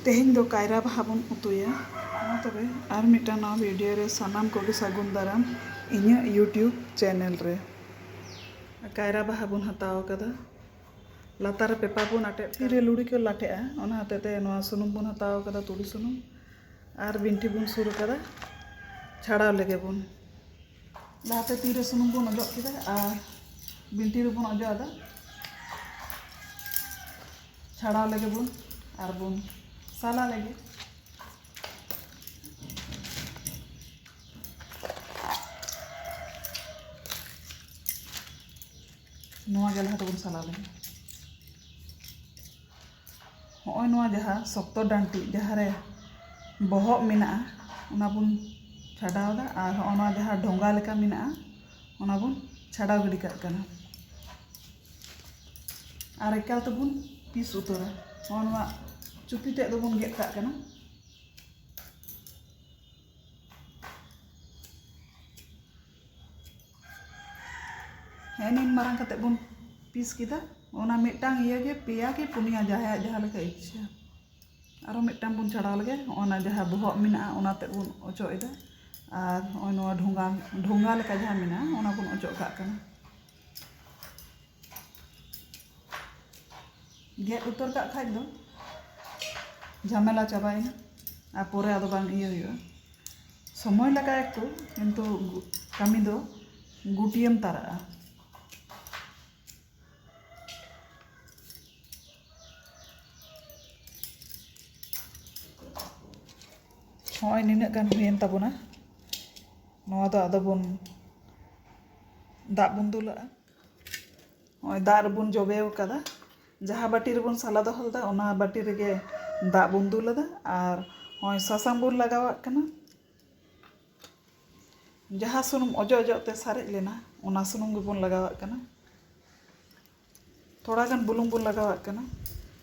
ᱛᱮᱦᱮᱧ ᱫᱚ ᱠᱟᱭᱨᱟ ᱵᱟᱦᱟ ᱵᱚᱱ ᱩᱛᱩᱭᱟ᱾ ᱢᱟ ᱛᱚᱵᱮ ᱟᱨ ᱢᱤᱫᱴᱟᱝ ᱱᱟᱣᱟ ᱵᱷᱤᱰᱤᱭᱳ ᱨᱮ ᱥᱟᱱᱟᱢ ᱠᱚᱜᱮ ᱥᱟᱹᱜᱩᱱ ᱫᱟᱨᱟᱢ ᱤᱧᱟᱹᱜ ᱭᱩᱴᱭᱩᱵᱽ ᱪᱮᱱᱮᱞ ᱨᱮ᱾ ᱠᱟᱭᱨᱟ ᱵᱟᱦᱟ ᱵᱚᱱ ᱦᱟᱛᱟᱣ ᱟᱠᱟᱫᱟ᱾ ᱞᱟᱛᱟᱨ ᱨᱮ ᱯᱮᱯᱟᱨ ᱵᱚᱱ ᱟᱴᱮᱫ᱾ ᱛᱤ ᱨᱮ ᱞᱩᱲᱤ ᱠᱚ ᱞᱟᱴᱷᱮᱜᱼᱟ ᱚᱱᱟ ᱦᱚᱛᱮᱡ ᱛᱮ ᱱᱚᱣᱟ ᱥᱩᱱᱩᱢ ᱵᱚᱱ ᱦᱟᱛᱟᱣ ᱟᱠᱟᱫᱟ ᱛᱩᱲᱤ ᱥᱩᱱᱩᱢ ᱟᱨ ᱵᱤᱱᱴᱷᱤ ᱵᱚᱱ ᱥᱩᱨ ᱟᱠᱟᱫᱟ ᱪᱷᱟᱲᱟᱣ ᱞᱮᱜᱮ ᱵᱚᱱ᱾ ᱞᱟᱦᱟᱛᱮ ᱛᱤᱨᱮ ᱥᱩᱱᱩᱢ ᱵᱚᱱ ᱚᱡᱚᱜ ᱠᱮᱫᱟ ᱟᱨ ᱵᱤᱱᱴᱤ ᱨᱮᱵᱚᱱ ᱚᱡᱚᱜ ᱟᱫᱟ ᱪᱷᱟᱲᱟᱣ ᱞᱮᱜᱮ ᱵᱚᱱ ᱟᱨ ᱵᱚᱱ ᱥᱟᱞᱟ ᱞᱮᱜᱮ ᱱᱚᱣᱟ ᱜᱮ ᱞᱟᱦᱟ ᱛᱮᱵᱚᱱ ᱥᱟᱞᱟ ᱞᱮᱜᱮ ᱦᱚᱜᱼᱚᱭ ᱱᱚᱣᱟ ᱡᱟᱦᱟᱸ ᱥᱚᱠᱛᱚ ᱰᱟᱱᱴᱤᱡ ᱡᱟᱦᱟᱸ ᱨᱮ ᱵᱚᱦᱚᱜ ᱢᱮᱱᱟᱜᱼᱟ ᱚᱱᱟ ᱵᱚᱱ ᱪᱷᱟᱰᱟᱣᱫᱟ ᱟᱨ ᱦᱚᱜᱼᱚᱭ ᱱᱚᱣᱟ ᱡᱟᱦᱟᱸ ᱰᱷᱚᱸᱜᱟ ᱞᱮᱠᱟ ᱢᱮᱱᱟᱜᱼᱟ ᱚᱱᱟ ᱵᱚᱱ ᱪᱷᱟᱰᱟᱣ ᱜᱤᱰᱤ ᱠᱟᱜ ᱠᱟᱱᱟ ᱟᱨ ᱮᱠᱟᱞ ᱛᱮᱵᱚᱱ ᱯᱤᱥ ᱩᱛᱟᱹᱨᱟ ᱦᱚᱜᱼᱚᱭ ᱱᱚᱣᱟ ᱪᱩᱯᱤ ᱛᱮᱫ ᱫᱚᱵᱚᱱ ᱜᱮᱫ ᱠᱟᱜ ᱠᱟᱱᱟ ᱦᱮᱸ ᱱᱤᱱ ᱢᱟᱨᱟᱝ ᱠᱟᱛᱮ ᱵᱚᱱ ᱯᱤᱥ ᱠᱮᱫᱟ ᱚᱱᱟ ᱢᱤᱫᱴᱟᱝ ᱤᱭᱟᱹ ᱜᱮ ᱯᱮᱭᱟ ᱠᱤ ᱯᱩᱱᱭᱟ ᱡᱟᱦᱟᱸᱭᱟᱜ ᱡᱟᱦᱟᱸ ᱞᱮᱠᱟ ᱤᱪᱪᱷᱟᱹ ᱟᱨᱚ ᱢᱤᱫᱴᱟᱝ ᱵᱚᱱ ᱪᱷᱟᱲᱟᱣ ᱞᱮᱜᱮ ᱚᱱᱟ ᱡᱟᱦᱟᱸ ᱵᱚᱦᱚᱜ ᱢᱮᱱᱟᱜᱼᱟ ᱚᱱᱟ ᱛᱮᱫ ᱵᱚᱱ ᱚᱪᱚᱜ ᱮᱫᱟ ᱟᱨ ᱱᱚᱜᱼᱚᱭ ᱱᱚᱣᱟ ᱰᱷᱚᱸᱜᱟ ᱰᱷᱚᱸᱜᱟ ᱞᱮᱠᱟ ᱡᱟᱦᱟᱸ ᱢᱮᱱᱟᱜᱼᱟ ᱚᱱᱟ ᱵᱚᱱ ᱚᱪᱚᱜ ᱠᱟᱜ ᱠᱟᱱᱟ ᱜᱮᱫ ᱩᱛᱟᱹᱨ ᱠᱟᱜ ᱠᱷᱟᱡ ᱫᱚ ᱡᱷᱟᱢᱮᱞᱟ ᱪᱟᱵᱟᱭᱮᱱᱟ ᱟᱨ ᱯᱚᱨᱮ ᱟᱫᱚ ᱵᱟᱝ ᱤᱭᱟᱹ ᱦᱩᱭᱩᱜᱼᱟ ᱥᱚᱢᱚᱭ ᱞᱟᱜᱟᱜᱼᱟ ᱮᱠᱴᱩ ᱠᱤᱱᱛᱩ ᱠᱟᱹᱢᱤ ᱫᱚ ᱜᱩᱴᱭᱟᱹᱢ ᱛᱟᱨᱟᱜᱼᱟ ᱦᱚᱸᱜᱼᱚᱭ ᱱᱤᱱᱟᱹᱜ ᱜᱟᱱ ᱦᱩᱭᱮᱱ ᱛᱟᱵᱚᱱᱟ ᱱᱚᱣᱟ ᱫᱚ ᱟᱫᱚ ᱵᱚᱱ ᱫᱟᱜ ᱵᱚᱱ ᱫᱩᱞᱟᱜᱼᱟ ᱱᱚᱜᱼᱚᱭ ᱫᱟᱜ ᱨᱮᱵᱚᱱ ᱡᱚᱵᱮ ᱟᱠᱟᱫᱟ ᱡᱟᱦᱟᱸ ᱵᱟᱹᱴᱤ ᱨᱮᱵᱚᱱ ᱥᱟᱞᱟ ᱫᱚᱦᱚ ᱞᱮᱫᱟ ᱚᱱᱟ ᱵᱟᱹᱴᱤ ᱨᱮᱜᱮ ᱫᱟᱜ ᱵᱚᱱ ᱫᱩᱞ ᱟᱫᱟ ᱟᱨ ᱱᱚᱜᱼᱚᱭ ᱥᱟᱥᱟᱝ ᱵᱚᱱ ᱞᱟᱜᱟᱣᱟᱜ ᱠᱟᱱᱟ ᱡᱟᱦᱟᱸ ᱥᱩᱱᱩᱢ ᱚᱡᱚᱜ ᱚᱡᱚᱜ ᱛᱮ ᱥᱟᱨᱮᱡ ᱞᱮᱱᱟ ᱚᱱᱟ ᱥᱩᱱᱩᱢ ᱜᱮᱵᱚᱱ ᱞᱟᱜᱟᱣᱟᱜ ᱠᱟᱱᱟ ᱛᱷᱚᱲᱟ ᱜᱟᱱ ᱵᱩᱞᱩᱝ ᱵᱚᱱ ᱞᱟᱜᱟᱣᱟᱜ ᱠᱟᱱᱟ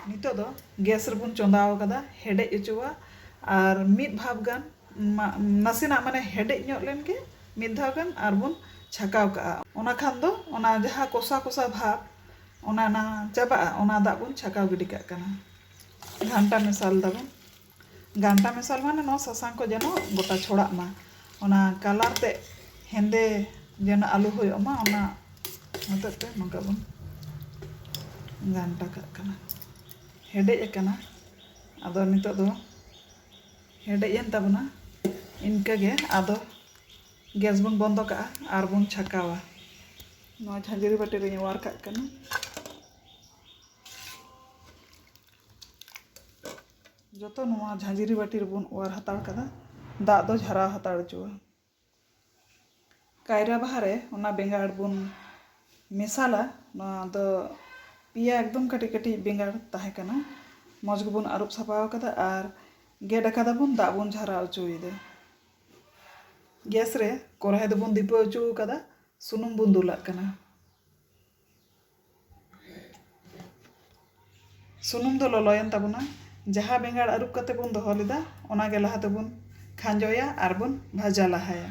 ᱱᱤᱛᱚᱜ ᱫᱚ ᱜᱮᱥ ᱨᱮᱵᱚᱱ ᱪᱚᱸᱫᱟ ᱟᱠᱟᱫᱟ ᱦᱮᱰᱮᱡ ᱦᱚᱪᱚᱣᱟᱜ ᱟᱨ ᱢᱤᱫ ᱵᱷᱟᱯ ᱜᱟᱱ ᱱᱟᱥᱮᱱᱟᱜ ᱢᱟᱱᱮ ᱦᱮᱰᱮᱡ ᱧᱚᱜ ᱞᱮᱱ ᱜᱮ ᱢᱤᱫ ᱫᱷᱟᱣ ᱜᱟᱱ ᱟᱨ ᱵᱚᱱ ᱪᱷᱟᱠᱟᱣ ᱠᱟᱜᱼᱟ ᱚᱱᱟ ᱠᱷᱟᱱ ᱫᱚ ᱚᱱᱟ ᱡᱟᱦᱟᱸ ᱠᱚᱥᱟ ᱠᱚᱥᱟ ᱵᱷᱟᱵᱽ ᱚᱱᱟ ᱚᱱᱟ ᱪᱟᱵᱟᱜᱼᱟ ᱚᱱᱟ ᱫᱟᱜ ᱵᱚᱱ ᱪᱷᱟᱠᱟᱣ ᱜᱤᱰᱤ ᱠᱟᱜ ᱠᱟᱱᱟ ᱜᱷᱟᱱᱴᱟ ᱢᱮᱥᱟᱞ ᱫᱟᱵᱚᱱ ᱜᱷᱟᱱᱴᱟ ᱢᱮᱥᱟᱞ ᱢᱟᱱᱮ ᱱᱚᱣᱟ ᱥᱟᱥᱟᱝ ᱠᱚ ᱡᱮᱱᱚ ᱜᱚᱴᱟ ᱪᱷᱚᱲᱟᱜ ᱢᱟ ᱚᱱᱟ ᱠᱟᱞᱟᱨ ᱛᱮᱫ ᱦᱮᱸᱫᱮ ᱡᱮᱱᱚ ᱟᱞᱚ ᱦᱩᱭᱩᱜ ᱢᱟ ᱚᱱᱟ ᱦᱚᱛᱮᱡ ᱛᱮ ᱱᱚᱝᱠᱟ ᱵᱚᱱ ᱜᱷᱟᱱᱴᱟ ᱠᱟᱜ ᱠᱟᱱᱟ ᱦᱮᱰᱮᱡ ᱟᱠᱟᱱᱟ ᱟᱫᱚ ᱱᱤᱛᱳᱜ ᱫᱚ ᱦᱮᱰᱮᱡ ᱮᱱ ᱛᱟᱵᱚᱱᱟ ᱤᱱᱠᱟᱹ ᱜᱮ ᱟᱫᱚ ᱜᱮᱥ ᱵᱚᱱ ᱵᱚᱱᱫᱚ ᱠᱟᱜᱼᱟ ᱟᱨ ᱵᱚᱱ ᱪᱷᱟᱠᱟᱣᱟ ᱱᱚᱣᱟ ᱡᱷᱟᱹᱡᱽᱨᱤ ᱵᱟᱹᱴᱤ ᱨᱤᱧ ᱚᱣᱟᱨ ᱠᱟᱜ ᱠᱟᱱᱟ ᱡᱚᱛᱚ ᱱᱚᱣᱟ ᱡᱷᱟᱹᱡᱽᱨᱤ ᱵᱟᱹᱴᱤ ᱨᱮᱵᱚᱱ ᱚᱣᱟᱨ ᱦᱟᱛᱟᱲ ᱠᱟᱫᱟ ᱫᱟᱜ ᱫᱚ ᱡᱷᱟᱨᱟᱣ ᱦᱟᱛᱟᱲ ᱦᱚᱪᱚᱣᱟᱜᱼᱟ ᱠᱟᱭᱨᱟ ᱵᱟᱦᱟ ᱨᱮ ᱚᱱᱟ ᱵᱮᱸᱜᱟᱲ ᱵᱚᱱ ᱢᱮᱥᱟᱞᱟ ᱱᱚᱣᱟ ᱫᱚ ᱯᱮᱭᱟ ᱮᱠᱫᱚᱢ ᱠᱟᱹᱴᱤᱡ ᱠᱟᱹᱴᱤᱡ ᱵᱮᱸᱜᱟᱲ ᱛᱟᱦᱮᱸ ᱠᱟᱱᱟ ᱢᱚᱡᱽ ᱜᱮᱵᱚᱱ ᱟᱹᱨᱩᱵ ᱥᱟᱯᱷᱟ ᱟᱠᱟᱫᱟ ᱟᱨ ᱜᱮᱫ ᱟᱠᱟᱫᱟᱵᱚᱱ ᱫᱟᱜ ᱵᱚᱱ ᱡᱷᱟᱨᱟᱣ ᱚᱪᱚᱭᱮᱫᱟ ᱜᱮᱥ ᱨᱮ ᱠᱚᱲᱦᱟᱭ ᱫᱚᱵᱚᱱ ᱫᱤᱯᱟᱹᱣ ᱚᱪᱚ ᱟᱠᱟᱫᱟ ᱥᱩᱱᱩᱢ ᱵᱚᱱ ᱫᱩᱞᱟᱜ ᱠᱟᱱᱟ ᱥᱩᱱᱩᱢ ᱫᱚ ᱞᱚᱞᱚᱭᱮᱱ ᱛᱟᱵᱚᱱᱟ ᱡᱟᱦᱟᱸ ᱵᱮᱸᱜᱟᱲ ᱟᱹᱨᱩᱵ ᱠᱟᱛᱮ ᱵᱚᱱ ᱫᱚᱦᱚ ᱞᱮᱫᱟ ᱚᱱᱟ ᱜᱮ ᱞᱟᱦᱟ ᱛᱮᱵᱚᱱ ᱠᱷᱟᱸᱡᱚᱭᱟ ᱟᱨ ᱵᱚᱱ ᱵᱷᱟᱡᱟ ᱞᱟᱦᱟᱭᱟ᱾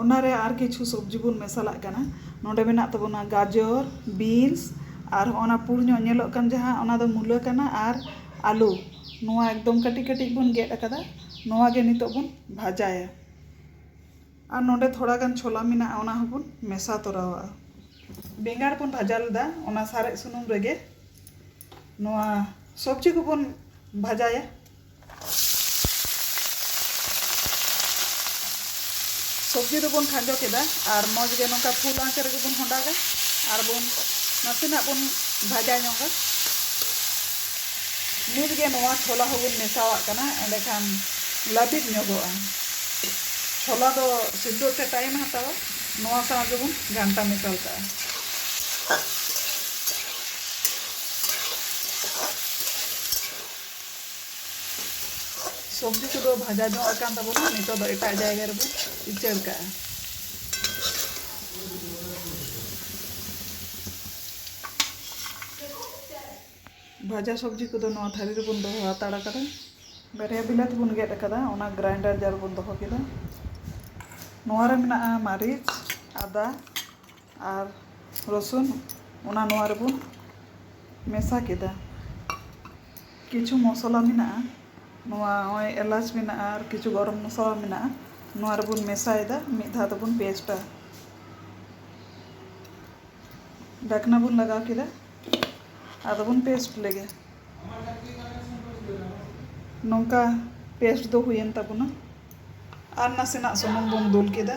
ᱚᱱᱟᱨᱮ ᱟᱨ ᱠᱤᱪᱷᱩ ᱥᱚᱵᱽᱡᱤ ᱵᱚᱱ ᱢᱮᱥᱟᱞᱟᱜ ᱠᱟᱱᱟ ᱱᱚᱰᱮ ᱢᱮᱱᱟᱜ ᱛᱟᱵᱚᱱᱟ ᱜᱟᱡᱚᱨ ᱵᱤᱱᱥ ᱟᱨ ᱦᱚᱸᱜᱼᱚ ᱱᱟ ᱯᱩᱬ ᱧᱚᱜ ᱧᱮᱞᱚᱜ ᱠᱟᱱ ᱡᱟᱦᱟᱸ ᱚᱱᱟ ᱫᱚ ᱢᱩᱞᱟᱹ ᱠᱟᱱᱟ ᱟᱨ ᱟᱹᱞᱩ ᱱᱚᱣᱟ ᱮᱠᱫᱚᱢ ᱠᱟᱹᱴᱤᱡ ᱠᱟᱹᱴᱤᱡ ᱵᱚᱱ ᱜᱮᱫ ᱟᱠᱟᱫᱟ ᱱᱚᱣᱟ ᱜᱮ ᱱᱤᱛᱳᱜ ᱵᱚᱱ ᱵᱷᱟᱡᱟᱭᱟ ᱟᱨ ᱱᱚᱰᱮ ᱛᱷᱚᱲᱟ ᱜᱟᱱ ᱪᱷᱚᱞᱟ ᱢᱮᱱᱟᱜᱼᱟ ᱚᱱᱟ ᱦᱚᱸ ᱵᱚᱱ ᱢᱮᱥᱟ ᱛᱚᱨᱟᱣᱟᱜᱼᱟ ᱵᱮᱸᱜᱟᱲ ᱵᱚᱱ ᱵᱷᱟᱡᱟ ᱞᱮᱫᱟ ᱚᱱᱟ ᱥᱟᱨᱮᱡ ᱥᱩᱱᱩᱢ ᱨᱮᱜᱮ ᱱᱚᱣᱟ ᱥᱚᱵᱽᱡᱤ ᱠᱚᱵᱚᱱ ᱵᱷᱟᱡᱟᱭᱟ ᱥᱚᱵᱽᱡᱤ ᱫᱚᱵᱚᱱ ᱠᱷᱟᱸᱡᱚ ᱠᱮᱫᱟ ᱟᱨ ᱢᱚᱡᱽ ᱜᱮ ᱱᱚᱝᱠᱟ ᱯᱷᱩᱞ ᱟᱸᱪ ᱨᱮᱜᱮ ᱵᱚᱱ ᱦᱚᱸᱰᱟᱜᱟ ᱟᱨ ᱵᱚᱱ ᱱᱟᱥᱮᱱᱟᱜ ᱵᱚᱱ ᱵᱷᱟᱡᱟ ᱧᱚᱜᱟ ᱱᱤᱛ ᱜᱮ ᱱᱚᱣᱟ ᱪᱷᱚᱞᱟ ᱦᱚᱸᱵᱚᱱ ᱢᱮᱥᱟᱣᱟᱜ ᱠᱟᱱᱟ ᱮᱸᱰᱮᱠᱷᱟᱱ ᱞᱟᱹᱵᱤᱫ ᱧᱚᱜᱚᱜᱼᱟ ᱪᱷᱚᱞᱟ ᱫᱚ ᱥᱤᱫᱷᱚᱜ ᱛᱮ ᱴᱟᱭᱤᱢ ᱦᱟᱛᱟᱣᱟ ᱱᱚᱣᱟ ᱥᱟᱶ ᱜᱮᱵᱚᱱ ᱜᱷᱟᱱᱴᱟ ᱢᱮᱥᱟᱞ ᱠᱟᱜᱼᱟ ᱥᱚᱵᱽᱡᱤ ᱠᱚᱫᱚ ᱵᱷᱟᱡᱟ ᱧᱚᱜ ᱟᱠᱟᱱ ᱛᱟᱵᱚᱱᱟ ᱱᱤᱛᱚᱜ ᱫᱚ ᱮᱴᱟᱜ ᱡᱟᱭᱜᱟ ᱨᱮᱵᱚᱱ ᱩᱪᱟᱹᱲ ᱠᱟᱜᱼᱟ ᱵᱷᱟᱡᱟ ᱥᱚᱵᱽᱡᱤ ᱠᱚᱫᱚ ᱱᱚᱣᱟ ᱛᱷᱟᱹᱨᱤ ᱨᱮᱵᱚᱱ ᱫᱚᱦᱚ ᱦᱟᱛᱟᱲ ᱟᱠᱟᱫᱟ ᱵᱟᱨᱭᱟ ᱵᱤᱞᱟᱹᱛᱤ ᱵᱚᱱ ᱜᱮᱫ ᱟᱠᱟᱫᱟ ᱚᱱᱟ ᱜᱨᱟᱭᱤᱱᱰᱟᱨ ᱡᱟᱨ ᱵᱚᱱ ᱫᱚᱦᱚ ᱠᱮᱫᱟ ᱱᱚᱣᱟ ᱨᱮ ᱢᱮᱱᱟᱜᱼᱟ ᱢᱟᱹᱨᱤᱪ ᱟᱫᱟ ᱟᱨ ᱨᱚᱥᱩᱱ ᱚᱱᱟ ᱱᱚᱣᱟ ᱨᱮᱵᱚᱱ ᱢᱮᱥᱟ ᱠᱮᱫᱟ ᱠᱤᱪᱷᱩ ᱢᱚᱥᱞᱟ ᱢᱮᱱᱟᱜᱼᱟ ᱱᱚᱣᱟ ᱱᱚᱜᱼᱚᱭ ᱮᱞᱟᱪ ᱢᱮᱱᱟᱜᱼᱟ ᱟᱨ ᱠᱤᱪᱷᱩ ᱜᱚᱨᱚᱢ ᱢᱚᱥᱞᱟ ᱢᱮᱱᱟᱜᱼᱟ ᱱᱚᱣᱟ ᱨᱮᱵᱚᱱ ᱢᱮᱥᱟᱭᱮᱫᱟ ᱢᱤᱫ ᱫᱷᱟᱣ ᱛᱮᱵᱚᱱ ᱯᱮᱥᱴᱟ ᱰᱷᱟᱠᱱᱟ ᱵᱚᱱ ᱞᱟᱜᱟᱣ ᱠᱮᱫᱟ ᱟᱫᱚ ᱵᱚᱱ ᱯᱮᱥᱴ ᱞᱮᱜᱮ ᱱᱚᱝᱠᱟ ᱯᱮᱥᱴ ᱫᱚ ᱦᱩᱭᱮᱱ ᱛᱟᱵᱚᱱᱟ ᱟᱨ ᱱᱟᱥᱮᱱᱟᱜ ᱥᱩᱱᱩᱢ ᱵᱚᱱ ᱫᱩᱞ ᱠᱮᱫᱟ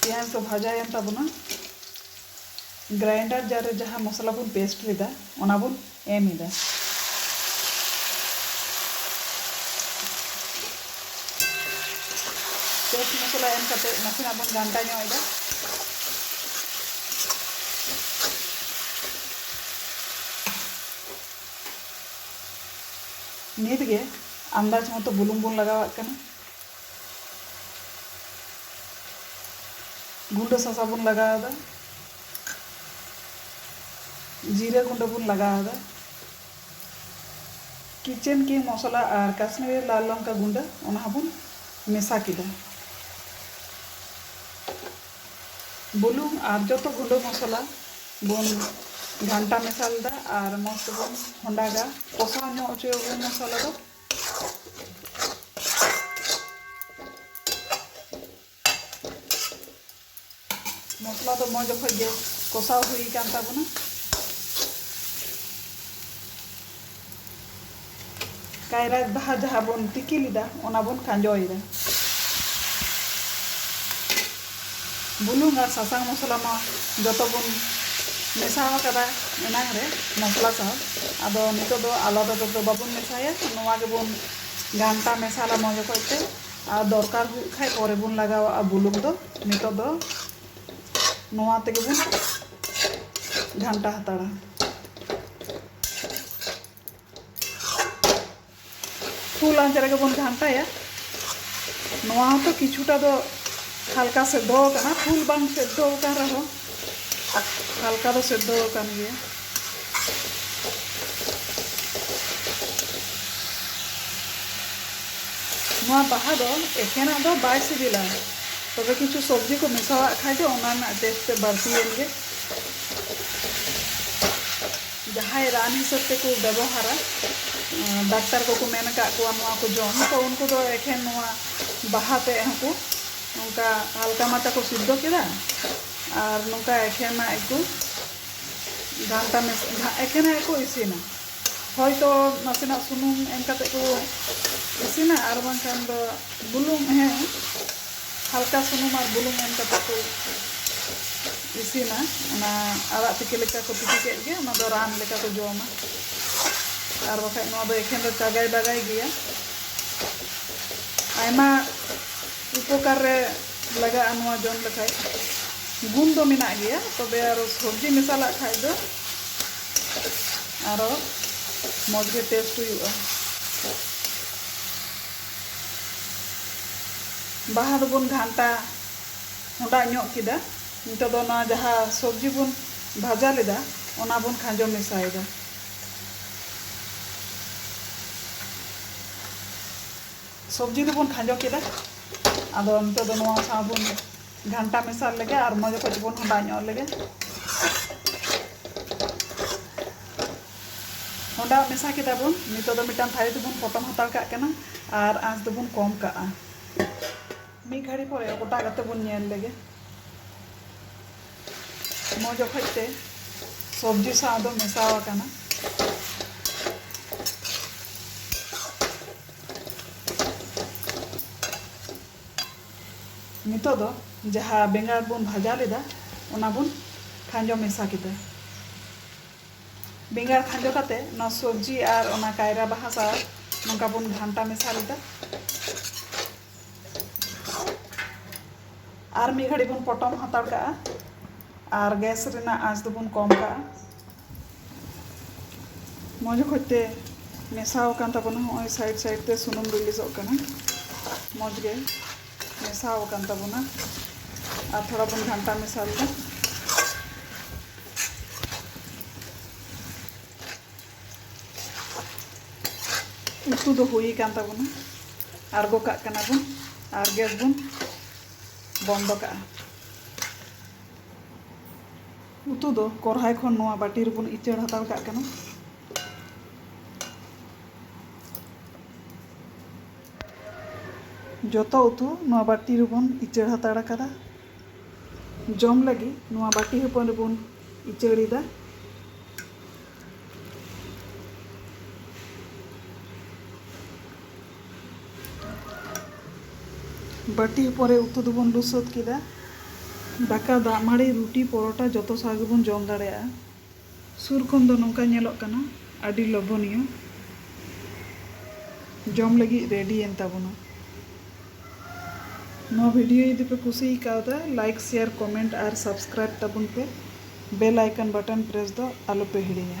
ᱯᱮᱸᱭᱟᱡᱽ ᱫᱚ ᱵᱷᱟᱡᱟᱭᱮᱱ ᱛᱟᱵᱚᱱᱟ᱾ ᱜᱨᱟᱭᱮᱱᱰᱟᱨ ᱡᱟᱨ ᱨᱮ ᱡᱟᱦᱟᱸ ᱢᱚᱥᱞᱟ ᱵᱚᱱ ᱯᱮᱥᱴ ᱞᱮᱫᱟ ᱚᱱᱟ ᱵᱚᱱ ᱮᱢ ᱮᱫᱟ᱾ ᱯᱮᱥᱴ ᱢᱚᱥᱞᱟ ᱮᱢ ᱠᱟᱛᱮ ᱱᱟᱥᱮᱱᱟᱜ ᱵᱚᱱ ᱜᱷᱟᱱᱴᱟ ᱧᱚᱜ ᱮᱫᱟ᱾ ᱱᱤᱛ ᱜᱮ ᱟᱱᱫᱟᱡᱽ ᱢᱚᱛᱚ ᱵᱩᱞᱩᱝ ᱵᱚᱱ ᱞᱟᱜᱟᱣᱟᱜ ᱠᱟᱱᱟ᱾ ᱜᱩᱸᱰᱟᱹ ᱥᱚᱥᱟ ᱵᱚᱱ ᱞᱟᱜᱟᱣ ᱮᱫᱟ ᱡᱤᱨᱟᱹ ᱜᱩᱸᱰᱟᱹ ᱵᱚᱱ ᱞᱟᱜᱟᱣ ᱮᱫᱟ ᱠᱤᱪᱮᱱ ᱠᱤᱝ ᱢᱚᱥᱞᱟ ᱟᱨ ᱠᱟᱥᱢᱤᱨᱤ ᱞᱟᱞ ᱞᱚᱝᱠᱟ ᱜᱩᱸᱰᱟᱹ ᱚᱱᱟ ᱦᱚᱸᱵᱚᱱ ᱢᱮᱥᱟ ᱠᱮᱫᱟ ᱵᱩᱞᱩᱝ ᱟᱨ ᱡᱚᱛᱚ ᱜᱩᱸᱰᱟᱹ ᱢᱚᱥᱞᱟ ᱵᱚᱱ ᱜᱷᱟᱱᱴᱟ ᱢᱮᱥᱟ ᱞᱮᱫᱟ ᱟᱨ ᱢᱚᱡᱽ ᱛᱮᱵᱚᱱ ᱦᱚᱸᱰᱟᱜᱟ ᱠᱚᱥᱟᱣ ᱧᱚᱜ ᱦᱚᱪᱚᱭᱟᱵᱚᱱ ᱢᱚᱥᱞᱟ ᱫᱚ ᱢᱚᱥᱞᱟ ᱫᱚ ᱢᱚᱡᱽ ᱚᱠᱚᱡ ᱜᱮ ᱠᱚᱥᱟᱣ ᱦᱩᱭ ᱟᱠᱟᱱ ᱛᱟᱵᱚᱱᱟ ᱠᱟᱭᱨᱟ ᱵᱟᱦᱟ ᱡᱟᱦᱟᱸ ᱵᱚᱱ ᱛᱤᱠᱤ ᱞᱮᱫᱟ ᱚᱱᱟ ᱵᱚᱱ ᱠᱷᱟᱸᱡᱚᱭᱮᱫᱟ ᱵᱩᱞᱩᱝ ᱟᱨ ᱥᱟᱥᱟᱝ ᱢᱚᱥᱞᱟ ᱢᱟ ᱡᱚᱛᱚ ᱵᱚᱱ ᱢᱮᱥᱟ ᱟᱠᱟᱫᱟ ᱮᱱᱟᱝ ᱨᱮ ᱢᱚᱥᱞᱟ ᱥᱟᱶ ᱟᱫᱚ ᱱᱤᱛᱚᱜ ᱫᱚ ᱟᱞᱟᱫᱟ ᱛᱮᱫᱚ ᱵᱟᱵᱚᱱ ᱢᱮᱥᱟᱭᱟ ᱱᱚᱣᱟ ᱜᱮᱵᱚᱱ ᱜᱷᱟᱱᱴᱟ ᱢᱮᱥᱟᱞᱟ ᱢᱚᱡᱽ ᱚᱠᱚᱡ ᱛᱮ ᱟᱨ ᱫᱚᱨᱠᱟᱨ ᱦᱩᱭᱩᱜ ᱠᱷᱟᱱ ᱯᱚᱨᱮ ᱵᱚᱱ ᱞᱟᱜᱟᱣᱟᱜᱼᱟ ᱵᱩᱞᱩᱝ ᱫᱚ ᱱᱤᱛᱚᱜ ᱫᱚ ᱱᱚᱣᱟ ᱛᱮᱜᱮ ᱵᱚᱱ ᱜᱷᱟᱱᱴᱟ ᱦᱟᱛᱟᱲᱟ ᱯᱷᱩᱞ ᱟᱸᱪ ᱨᱮᱜᱮ ᱵᱚᱱ ᱜᱷᱟᱱᱴᱟᱭᱟ ᱱᱚᱣᱟ ᱦᱚᱸᱛᱚ ᱠᱤᱪᱷᱩᱴᱟ ᱫᱚ ᱦᱟᱞᱠᱟ ᱥᱮᱫᱷᱚ ᱟᱠᱟᱱᱟ ᱯᱷᱩᱞ ᱵᱟᱝ ᱥᱮᱫᱷᱚ ᱟᱠᱟᱱ ᱨᱮᱦᱚᱸ ᱦᱟᱞᱠᱟ ᱫᱚ ᱥᱮᱫᱷᱚ ᱟᱠᱟᱱ ᱜᱮᱭᱟ ᱱᱚᱣᱟ ᱵᱟᱦᱟ ᱫᱚ ᱮᱠᱷᱮᱱᱟᱜ ᱫᱚ ᱵᱟᱭ ᱥᱤᱵᱤᱞᱟ ᱛᱚᱵᱮ ᱠᱤᱪᱷᱩ ᱥᱚᱵᱽᱡᱤ ᱠᱚ ᱢᱮᱥᱟᱣᱟᱜ ᱠᱷᱟᱱ ᱫᱚ ᱚᱱᱟ ᱨᱮᱱᱟᱜ ᱴᱮᱥᱴ ᱛᱮᱫ ᱵᱟᱹᱲᱛᱤᱭᱮᱱ ᱜᱮ ᱡᱟᱦᱟᱸᱭ ᱨᱟᱱ ᱦᱤᱥᱟᱹᱵ ᱛᱮᱠᱚ ᱵᱮᱵᱚᱦᱟᱨᱟ ᱰᱟᱠᱛᱟᱨ ᱠᱚᱠᱚ ᱢᱮᱱ ᱟᱠᱟᱫ ᱠᱚᱣᱟ ᱱᱚᱣᱟ ᱠᱚ ᱡᱚᱢ ᱛᱚ ᱩᱱᱠᱩ ᱫᱚ ᱮᱠᱷᱮᱱ ᱱᱚᱣᱟ ᱵᱟᱦᱟ ᱛᱮᱫ ᱦᱚᱸᱠᱚ ᱱᱚᱝᱠᱟ ᱦᱟᱞᱠᱟ ᱢᱟᱪᱷᱟ ᱠᱚ ᱥᱤᱫᱽᱫᱷᱚ ᱠᱮᱫᱟ ᱟᱨ ᱱᱚᱝᱠᱟ ᱮᱠᱷᱮᱱᱟᱜ ᱜᱮᱠᱚ ᱜᱷᱟᱱᱴᱟ ᱢᱮᱥᱟ ᱮᱠᱷᱮᱱᱟᱜ ᱜᱮᱠᱚ ᱤᱥᱤᱱᱟ ᱦᱚᱭᱛᱚ ᱱᱟᱥᱮᱱᱟᱜ ᱥᱩᱱᱩᱢ ᱮᱢ ᱠᱟᱛᱮᱫ ᱠᱚ ᱤᱥᱤᱱᱟ ᱟᱨ ᱵᱟᱝᱠᱷᱟᱱ ᱫᱚ ᱵᱩᱞᱩᱝ ᱦᱮᱸ ᱦᱟᱞᱠᱟ ᱥᱩᱱᱩᱢ ᱟᱨ ᱵᱩᱞᱩᱝ ᱮᱢ ᱠᱟᱛᱮ ᱠᱚ ᱤᱥᱤᱱᱟ ᱚᱱᱟ ᱟᱲᱟᱜ ᱛᱤᱠᱤ ᱞᱮᱠᱟ ᱠᱚ ᱛᱤᱠᱤ ᱠᱮᱫ ᱜᱮ ᱚᱱᱟ ᱫᱚ ᱨᱟᱱ ᱞᱮᱠᱟ ᱠᱚ ᱡᱚᱢᱟ ᱟᱨ ᱵᱟᱠᱷᱟᱡ ᱱᱚᱣᱟ ᱫᱚ ᱮᱠᱷᱮᱱ ᱫᱚ ᱪᱟᱜᱟᱭ ᱵᱟᱜᱟᱭ ᱜᱮᱭᱟ ᱟᱭᱢᱟ ᱩᱯᱚᱠᱟᱨ ᱨᱮ ᱞᱟᱜᱟᱜᱼᱟ ᱱᱚᱣᱟ ᱡᱚᱢ ᱞᱮᱠᱷᱟᱡ ᱜᱩᱱ ᱫᱚ ᱢᱮᱱᱟᱜ ᱜᱮᱭᱟ ᱛᱚᱵᱮ ᱟᱨᱚ ᱥᱚᱵᱽᱡᱤ ᱢᱮᱥᱟᱞᱟᱜ ᱠᱷᱟᱡ ᱫᱚ ᱟᱨᱚ ᱢᱚᱡᱽ ᱜᱮ ᱴᱮᱥᱴ ᱦᱩᱭᱩᱜᱼᱟ ᱵᱟᱦᱟ ᱫᱚᱵᱚᱱ ᱜᱷᱟᱱᱴᱟ ᱦᱚᱸᱰᱟᱜ ᱧᱚᱜ ᱠᱮᱫᱟ᱾ ᱱᱤᱛᱚᱜ ᱫᱚ ᱱᱚᱣᱟ ᱡᱟᱦᱟᱸ ᱥᱚᱵᱽᱡᱤ ᱵᱚᱱ ᱵᱷᱟᱡᱟ ᱞᱮᱫᱟ ᱚᱱᱟ ᱵᱚᱱ ᱠᱷᱟᱸᱡᱚ ᱢᱮᱥᱟᱭᱮᱫᱟ᱾ ᱥᱚᱵᱽᱡᱤ ᱫᱚᱵᱚᱱ ᱠᱷᱟᱸᱡᱚ ᱠᱮᱫᱟ᱾ ᱟᱫᱚ ᱱᱤᱛᱚᱜ ᱫᱚ ᱱᱚᱣᱟ ᱥᱟᱶ ᱵᱚᱱ ᱜᱷᱟᱱᱴᱟ ᱢᱮᱥᱟ ᱞᱮᱜᱮ ᱟᱨ ᱢᱚᱡᱽ ᱚᱠᱚᱡ ᱵᱚᱱ ᱦᱚᱸᱰᱟᱜ ᱧᱚᱜ ᱞᱮᱜᱮ᱾ ᱚᱸᱰᱟᱜ ᱢᱮᱥᱟ ᱠᱮᱫᱟ ᱵᱚᱱ ᱱᱤᱛᱚᱜ ᱫᱚ ᱢᱤᱫᱴᱟᱝ ᱛᱷᱟᱹᱨᱤ ᱛᱮᱵᱚᱱ ᱯᱚᱴᱚᱢ ᱦᱟᱛᱟᱲ ᱠᱟᱜ ᱠᱟᱱᱟ ᱟᱨ ᱟᱸᱪ ᱫᱚᱵᱚᱱ ᱠᱚᱢ ᱠᱟᱜᱼᱟ ᱢᱤᱫ ᱜᱷᱟᱹᱲᱤ ᱯᱚᱨᱮ ᱚᱴᱟᱜ ᱠᱟᱛᱮ ᱵᱚᱱ ᱧᱮᱞ ᱞᱮᱜᱮ ᱢᱚᱡᱽ ᱚᱠᱚᱡ ᱛᱮ ᱥᱚᱵᱽᱡᱤ ᱥᱟᱶ ᱫᱚ ᱢᱮᱥᱟ ᱟᱠᱟᱱᱟ ᱱᱤᱛᱚᱜ ᱫᱚ ᱡᱟᱦᱟᱸ ᱵᱮᱸᱜᱟᱲ ᱵᱚᱱ ᱵᱷᱟᱡᱟ ᱞᱮᱫᱟ ᱚᱱᱟ ᱵᱚᱱ ᱠᱷᱟᱸᱡᱚ ᱢᱮᱥᱟ ᱠᱮᱫᱟ ᱵᱮᱸᱜᱟᱲ ᱠᱷᱟᱸᱡᱚ ᱠᱟᱛᱮ ᱱᱚᱣᱟ ᱥᱚᱵᱽᱡᱤ ᱟᱨ ᱚᱱᱟ ᱠᱟᱭᱨᱟ ᱵᱟᱦᱟ ᱥᱟᱶ ᱱᱚᱝᱠᱟ ᱵᱚᱱ ᱜᱷᱟᱱᱴᱟ ᱢᱮᱥᱟ ᱞᱮᱫᱟ ᱟᱨ ᱢᱤᱫ ᱜᱷᱟᱹᱲᱤᱡ ᱵᱚᱱ ᱯᱚᱴᱚᱢ ᱦᱟᱛᱟᱲ ᱠᱟᱜᱼᱟ ᱟᱨ ᱜᱮᱥ ᱨᱮᱱᱟᱜ ᱟᱸᱪ ᱫᱚᱵᱚᱱ ᱠᱚᱢ ᱠᱟᱜᱼᱟ ᱢᱚᱡᱽ ᱚᱠᱚᱡ ᱛᱮ ᱢᱮᱥᱟᱣ ᱟᱠᱟᱱ ᱛᱟᱵᱚᱱᱟ ᱦᱚᱸᱜᱼᱚᱭ ᱥᱟᱭᱤᱰ ᱥᱟᱭᱤᱰ ᱛᱮ ᱥᱩᱱᱩᱢ ᱨᱤᱞᱤᱡᱚᱜ ᱠᱟᱱᱟ ᱢᱚᱡᱽ ᱜᱮ ᱢᱮᱥᱟᱣ ᱟᱠᱟᱱ ᱛᱟᱵᱚᱱᱟ ᱟᱨ ᱛᱷᱚᱲᱟ ᱵᱚᱱ ᱜᱷᱟᱱᱴᱟ ᱢᱮᱥᱟ ᱞᱮᱫᱟ ᱩᱛᱩ ᱫᱚ ᱦᱩᱭ ᱟᱠᱟᱱ ᱛᱟᱵᱚᱱᱟ ᱟᱬᱜᱚ ᱠᱟᱜ ᱠᱟᱱᱟ ᱵᱚᱱ ᱟᱨ ᱜᱮᱥ ᱵᱚᱱ ᱵᱚᱱᱫᱚ ᱠᱟᱜᱼᱟ ᱩᱛᱩ ᱫᱚ ᱠᱚᱨᱦᱟᱭ ᱠᱷᱚᱱ ᱱᱚᱣᱟ ᱵᱟᱹᱴᱤ ᱨᱮᱵᱚᱱ ᱤᱪᱟᱹᱲ ᱦᱟᱛᱟᱲ ᱠᱟᱜ ᱠᱟᱱᱟ ᱡᱚᱛᱚ ᱩᱛᱩ ᱱᱚᱣᱟ ᱵᱟᱹᱴᱤ ᱨᱮᱵᱚᱱ ᱤᱪᱟᱹᱲ ᱦᱟᱛᱟᱲ ᱟᱠᱟᱫᱟ᱾ ᱡᱚᱢ ᱞᱟᱹᱜᱤᱫ ᱱᱚᱣᱟ ᱵᱟᱹᱴᱤ ᱦᱚᱯᱚᱱ ᱨᱮᱵᱚᱱ ᱤᱪᱟᱹᱲ ᱮᱫᱟ᱾ ᱵᱟᱹᱴᱤ ᱦᱚᱯᱚᱱ ᱨᱮ ᱩᱛᱩ ᱫᱚᱵᱚᱱ ᱞᱩ ᱥᱟᱹᱛ ᱠᱮᱫᱟ᱾ ᱫᱟᱠᱟ, ᱫᱟᱜ ᱢᱟᱹᱲᱤ, ᱨᱩᱴᱤ, ᱯᱚᱨᱚᱴᱟ ᱡᱚᱛᱚ ᱥᱟᱶ ᱜᱮᱵᱚᱱ ᱡᱚᱢ ᱫᱟᱲᱮᱭᱟᱜᱼᱟ᱾ ᱥᱩᱨ ᱠᱷᱚᱱ ᱫᱚ ᱱᱚᱝᱠᱟ ᱧᱮᱞᱚᱜ ᱠᱟᱱᱟ ᱟᱹᱰᱤ ᱞᱚᱵᱚᱱᱤᱭᱚ ᱡᱚᱢ ᱞᱟᱹᱜᱤᱫ ᱨᱮᱰᱤ ᱮᱱ ᱛᱟᱵᱚᱱᱟ ᱱᱚᱣᱟ ᱵᱷᱤᱰᱤᱭᱳ ᱡᱩᱫᱤ ᱯᱮ ᱠᱩᱥᱤ ᱟᱠᱟᱣᱫᱟ ᱞᱟᱭᱤᱠ ᱥᱮᱭᱟᱨ ᱠᱚᱢᱮᱱᱴ ᱟᱨ ᱥᱟᱵᱥᱠᱨᱟᱭᱤᱵ ᱛᱟᱵᱚᱱ ᱯᱮ ᱵᱮᱞ ᱟᱭᱠᱚᱱ ᱵᱟᱴᱚᱱ ᱯᱨᱮᱥ ᱫᱚ ᱟᱞᱚ ᱯᱮ ᱦᱤᱲᱤᱧᱟ